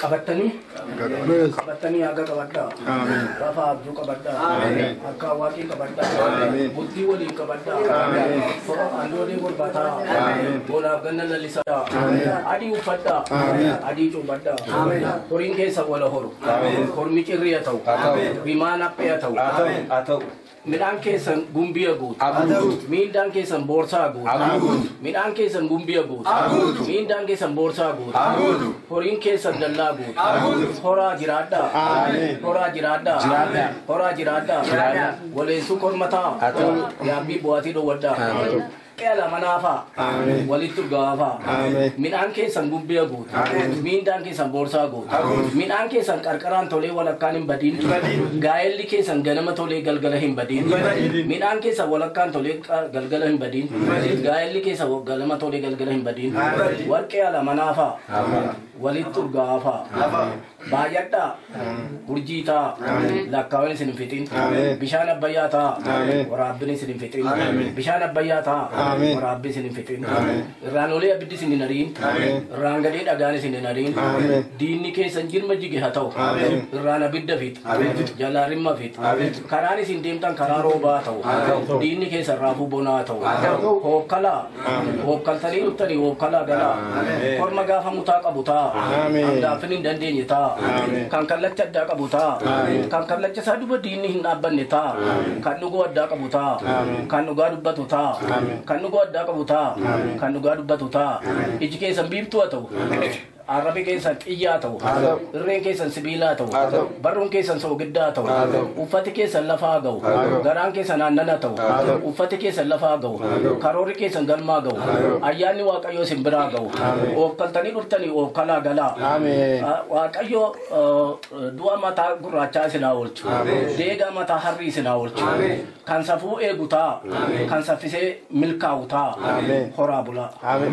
qabattanii qabattanii haga qabadhaa lafa abjuu qabadhaa akka waaqii qabadhaa bultii waliin qabadhaa andoodee gurbataa boolaaf ganna lallisaa adii uffadhaa adii cuubadhaa horiin keessa wala horu hormi cirriya ta'u bimaan haphee haa ta'u Midhaan keessan gumbiya guutu. Miindaan keessan boorsaa guutu. Midhaan keessan gumbiya guutu. Miindaan keessan boorsaa guutu. Horiin keessan dallaa guutu. Horaa jiraadhaa. Horaa jiraadhaa. Horaa jiraadhaa. Waleensuu kormataa. Yaabbii bu'aatii dhowwadhaa. Qeela manaafaa. Ameen. Walitti urgawaafaa. Ameen. Midhaan keessan gubbee guutu. Ameen. Miindaan keessan boorsaa guutu. Ameen. Midhaan keessan qarqaraan tolee walakkaan hin badin. Hin badin. Gaa'elli keessan ganama tolee galgala hin badin. Hin badin. Midhaan keessan walakkaan tolee qa- galgala hin badin. Hin badin. Gaa'elli keessan wa- ganama tolee galgala hin badin. Hin badin. Warqee ala manaafaa. Ameen. Walitti urgawaafaa. Ameen. Baay'adhaa. Urjii taa. Lakkaawwan isin hin fixin. Bishaan abbayyaa taa. Waraabbiin isin hin fixin. Bishaan abbayyaa taa. Waraabbii isin hin fixin. Irraan olee abiddi isin hin ariin. Irraan gadee dhagaan isin hin ariin. Diinni keessan jirma jige haa ta'u. Irraan abidda fix. Jalaa rimma fix. Karaan isin deemtan karaa roobaa haa ta'u. Diinni keessan raafuu bonaa haa ta'u. Hookkalaa. Wookkaltanii dhuftanii wookkalaa galaa. Korma gaafa mutaa qabu taa. Hangaafin hin dandeenye taa. Kan kallacha addaa qabu taa. Kan kallacha isaa duba diinni hin dhaabbanne taa. Kan dhugoo addaa qabu taa. Kan dhugaa dubbatu taa. Kan dhugoo addaa qabu taa. Kan dhugaa dubbatu taa. Iji keessan biiftuu haa ta'u. Arrabi keessan xiyyaa haa ta'u. Haa ta'u. Irreen keessan sibiilaa ta'u. Haa ta'u. Barruun keessan soogiddaa haa ta'u. Haa ta'u. Uffati keessan lafaa haa ga'u. Haa ta'u. Garaan keessan aannan haa ta'u. Haa ta'u. Uffati keessan lafaa haa ga'u. Haa ta'u. Karoorri keessan galmaa ga'u. Haa ta'u. Ayyaanni Waaqayyoo isin biraa haa ga'u. Ameen. Oofkaltanii dhuftanii oofkalaa galaa. Ameen. Ah, Waaqayyo ah, du'a mataa gurraachaa isin haa oolchu. Ameen. Deegaa mataa harrii isin haa oolchu. Ameen. Kan safuu eegu taa. Kan saffisee milkaa'u taa. Horaa bulaa. Ameen.